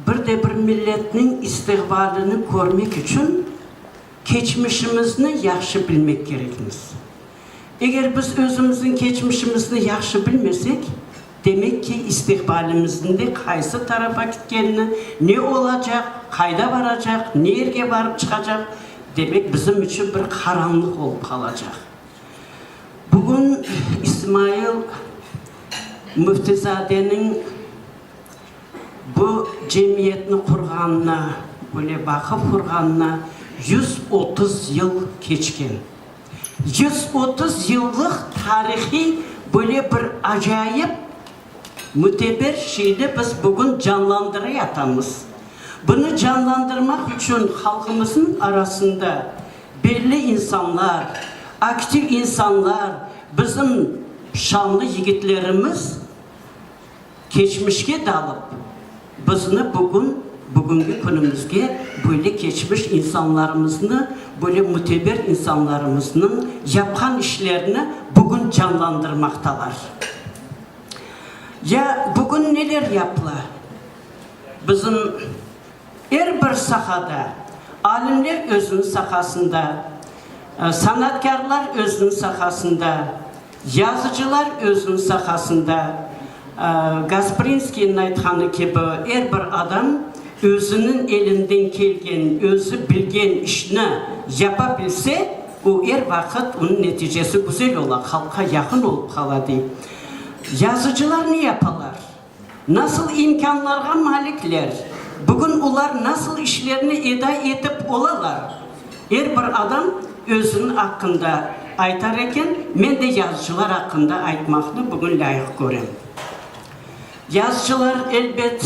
Bir de bir milletniñ istiqbalini körmek içün keçmişimizni yahşı bilmek kerekmiz. Eger biz özümizniñ keçmişimizni yahşı bilmesek, demek ki, istiqbalimizni de qaysı tarafa kitkenini, ne olacaq, qayda baracaq, ne yerge barıp çıqacaq, demek bizim içün bir qaranlıq olıp qalacaq. Bugün İsmail Müftizadeniñ bu cemiyetni qurğanına, böyle baqıp qurğanına yüz otuz yıl keçken. Yüz otuz yıllıq tarihiy böyle bir acayip, müteber şeyni biz bugün canlandıray atamız. Bunı canlandırmaq içün halqımıznıñ arasında, Belli insanlar, aktiv insanlar, bizim şanlı yigitlerimiz keçmişke dalıp, bizni bugün, bugüngi künümizge böyle keçmiş insanlarımıznı, böyle müteber insanlarımıznıñ yapqan işlerini bugün canlandırmaqtalar. Ya bugün neler yapıla? Bizim. Er bir sahada, alimler özüniñ sahasında, sanatkârlar özüniñ sahasında, yazıcılar özüniñ sahasında, Gasprinskiyniñ aytqanı kibi, er bir adam özüniñ elinden kelgen, özü bilgen işni yapa bilse, o, er vaqıt onıñ neticesi güzel ola, halqqa yaqın olıp qala, dey. Yazıcılar ne yapalar? Nasıl imkânlarğa malikler? Bugün olar nasıl işlerni eda etip olalar? Er bir adam özüniñ aqqında aytar eken, men de yazıcılar aqqında aytmaqnı bugün lâyıq körem. Yazıcılar, elbet.